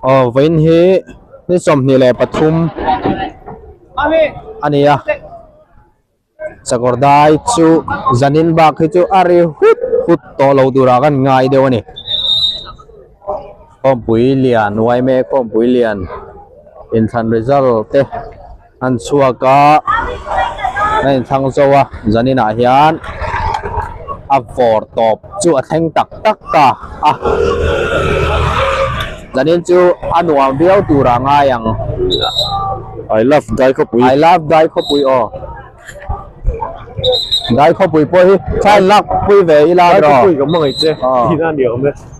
Aw vawiin hi ni sawmhnih leh pathum a ni a, Sakawrdai chu zanin bak hi chu a ri hut hut tawh lo tur ah kha an ngai deuh a ni. Khawmpuii lian uai mai a, Khawmpuii lian inthlan result te. An chhuak a a in thlang zo a zanin ah hian a vawr tawp chu a thleng tak tak ta a zanin chu a nuam viau tur a ngai ang I love dai khawpui I love dai khawpui aw dai khawpui pawh hi thlai an lak pui ve ila a ni rawh dai khawpui ka hmangaih che tina ni awm e.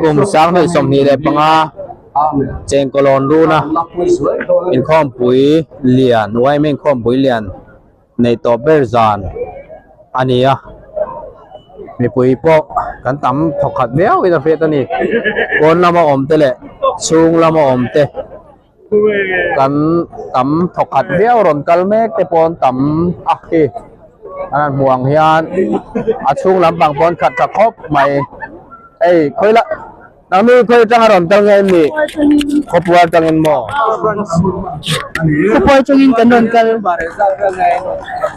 Kum sang hnih sawmhnih leh panga chengkawlawn runa inkhawmpui lian uaima inkhawmpui lian neih tawh ber zan a ni a mipui pawh kan tam thawkhat viau in a hriat a ni pawn lama awmte leh chhung lama awmte. kan tam thaw khat viau rawn kal mek te pawn tam a hi a lan hmuh ang hian a chhung lam pang pawn khat ta khawp mai ei khawi la nang mi khawi atanga rawn kal nge mi khapuar tangin maw khapuar tangin kan rawn kal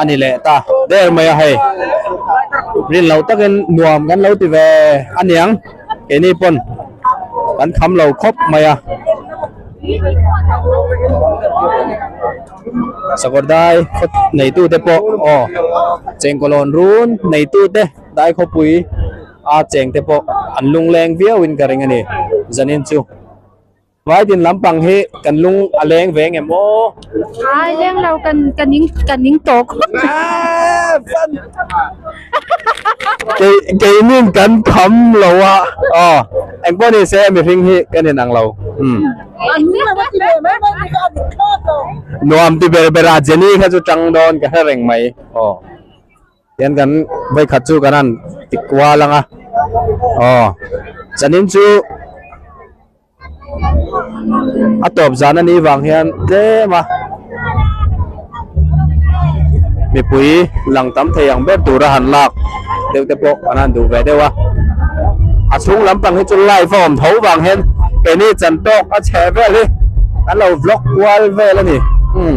A ni leh ta ber mai a hei. Rin loh takin nuam kan lo ti ve a niang. Keini pawn kan kham lo khawp mai a. Sakawr dai khaw neitu te pawh aw chengkawlawn run neitu te dai khawpui a cheng te pawh an lungleng viau in ka ring a ni zanin chu. Vai din lampang hi kan lung a leng ve nge maw? Ai leng lo ka ning ka ning tawh khawp. Kei kei nin kan tham lo a aw engpawh ni se mihring hi ka nen ang lo umm. An ning lo ti leh mai mai bik a dik thlawt lo. Nuam ti ber ber a Jenny kha chu tang dawn ka hre reng mai aw. Tian kan vai khat chu kan han ti kual anga aw chanin chu a tawp zan a ni vang hian tlema mipui lang tam thei ang ber tura han lak deuh te pawh kan han duh ve deuh a a chhung lampang hi chu live a awm tho vang hian keni chantok a chhe vel hi kan lo vlog kual vel a ni um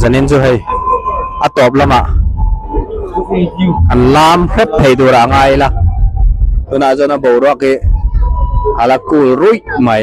zanin chu hei a tawp lamah an lam hrep thei tur a ngai ila tunah chuan a boruak hi ala cool ruih mai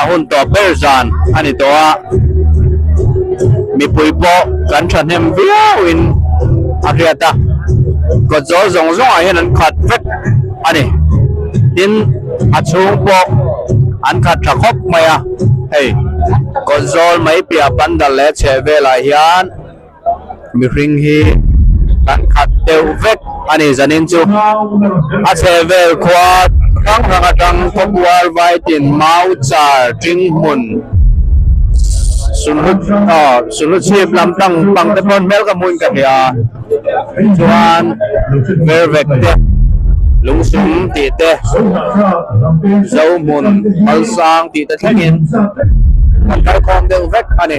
a hun tawh ber zan a ni tawh a, mipui pawh kan thahnem viau in a hriat a, kawt zawng zawng zawng ah hian an khat vek a ni, tin a chhung pawh an khat tha khawp mai a, hei kawt zawl mai piah pandal leh chheh vel ah hian, Mihring hi kan khat deuh vek a ni zanin chu a chhehvel khua hrang hrang atang khawmual vai tin mau char ṭing hmun sunhlu chhip lam tang pang te pawh hmel ka hmu in ka hria a, chuan vervek te, lungsum tih te, zohmun, malsang tih te thleng in kan kalkhawm deuh vek a ni.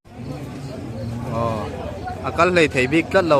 Aww a kal hleithei bik tlat lo.